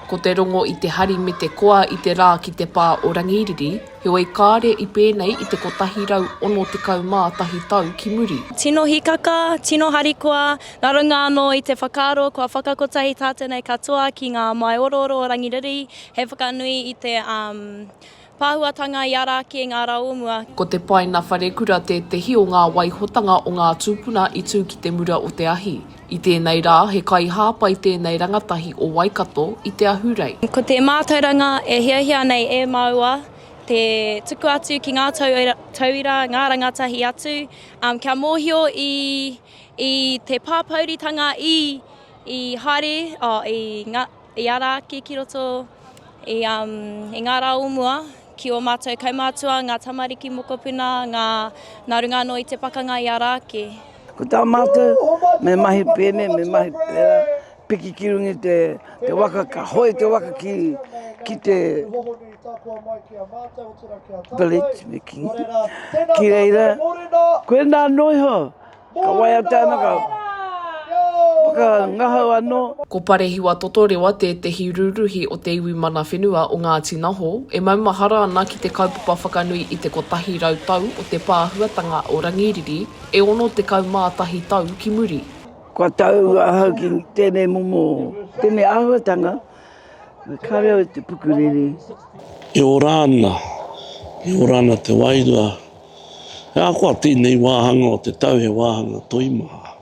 Ko te rongo i te hari me te koa i te rā ki te pā o Rangiriri, heoi kāre i pēnei i te 161 tau ki muri. Tino hikaka, tino harikoa, nga runga anō i te whakaaro kua whakakotahi tātou nei katoa ki ngā māi orooro o Rangiriri, he whakanui i te Pāhuatanga i ara ake ngā rā o mua. Ko Te Paina Wharekura tētehi o ngā waihotanga o ngā tūpuna i tū ki te mura o te ahi. I tēnei rā, he kaihāpai tēnei rangatahi o Waikato i te ahurei. Ko te mātauranga e hiahia nei e māua, te tuku atu ki ngā tauira, ngā rangatahi atu, kia mōhio i te pāpouritanga i haere, i ngā. I a Rāki ki roto i, um, i ngā rā o mua, ki o mātou kaumātua, ngā tamariki mokopuna, ngā, nā runga anō i te pakanga i a Rāki. Ko tā mātou, me mahi pēnei, me mahi pērā, piki ki runga i te, te waka, ka hoe te waka ki, ki te village, me kī. Ki reira, koe nā anō iho, Ka waea tanaka whakangahau anō. Ko Parehiwa Totorewa tētehi rūruhi o te iwi mana whenua o Ngāti Naho, e maumahara ana ki te kaupapa whakanui i te kotahi rau tau o te pāhuatanga o Rangiriri e ono tekau mā tahi tau ki muri. Kua tau ahau ki tēnei momo, tēnei āhuatanga, me kare au i te pukuriri. E ora ana, e ora ana te wairua He ahakoa tēnei wāhanga o te tau he wāhanga toimaha.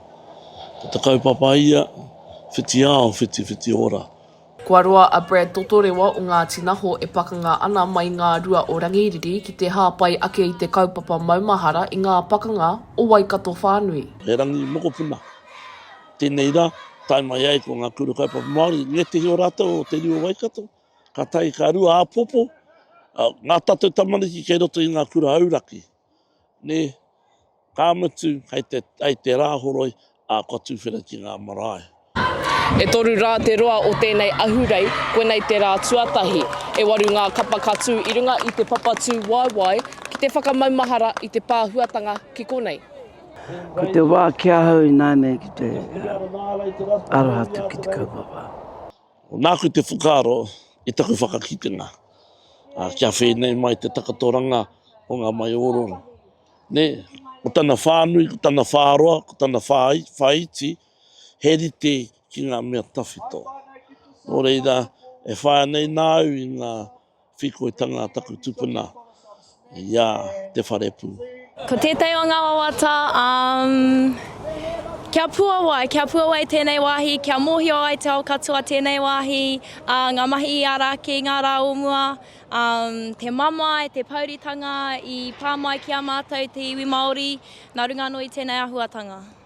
Ko te kaupapa ia, whiti ao, whiti whiti ora. Kua roa a Brad Totorewa o Ngāti Naho e pakanga ana mai ngā rua o Rangiriri ki te hāpai ake i te kaupapa maumahara i ngā pakanga o Waikato whānui. He rangi mokopuna tēnei rā, tae mai ai ko ngā kura kaupapa Māori, ngētehi o rātou o te reo Waikato. Ka tahi ka rua apopo, ngā tatou tamariki kei roto i ngā kura auraki, ne, ka mutu hei te, hei te Rāhoroi, a, kua tuwhera ki ngā marae. E toru rā te roa o tēnei ahurei, koinei te rā tuatahi. E waru ngā kapa ka tū i runga i te papa tū waewae ki te whakamaumahara i te pāhuatanga ki konei. Ko te wā ki ahau ināianei ki te aroha atu ki te kaupapa. Nāku te whakaaro i taku whakakitenga, kia whēnei mai te takatoranga o ngā maiōrōrō. Nē, ko tana whānui, ko tana whāroa, ko tana whāiti, he rite ki ngā mea tawhito. Nō reira, e whāia nei nāu i ngā. Whekoitanga taku tupuna i a Te Wharepū. Ko tētahi o ngā wawata, umm, kia puawai, kia puawai tēnei wāhi, kia mōhio ai te ao katoa tēnei wāhi, ā, ngā mahi i ara ake i ngā rā o mua, umm, te mamae, te pouritanga i pā mai ki a mātou te iwi Māori nā runga anō i tēnei āhuatanga.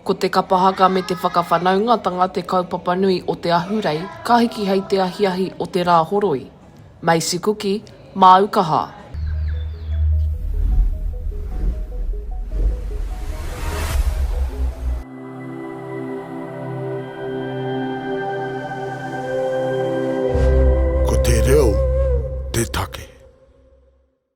Ko te kapa haka me te whakawhanaungatanga te kaupapa nui o te ahurei ka hiki hei te ahiahi o te rā horoi. Macy Kuki, māu kaha. Ko te reo te take.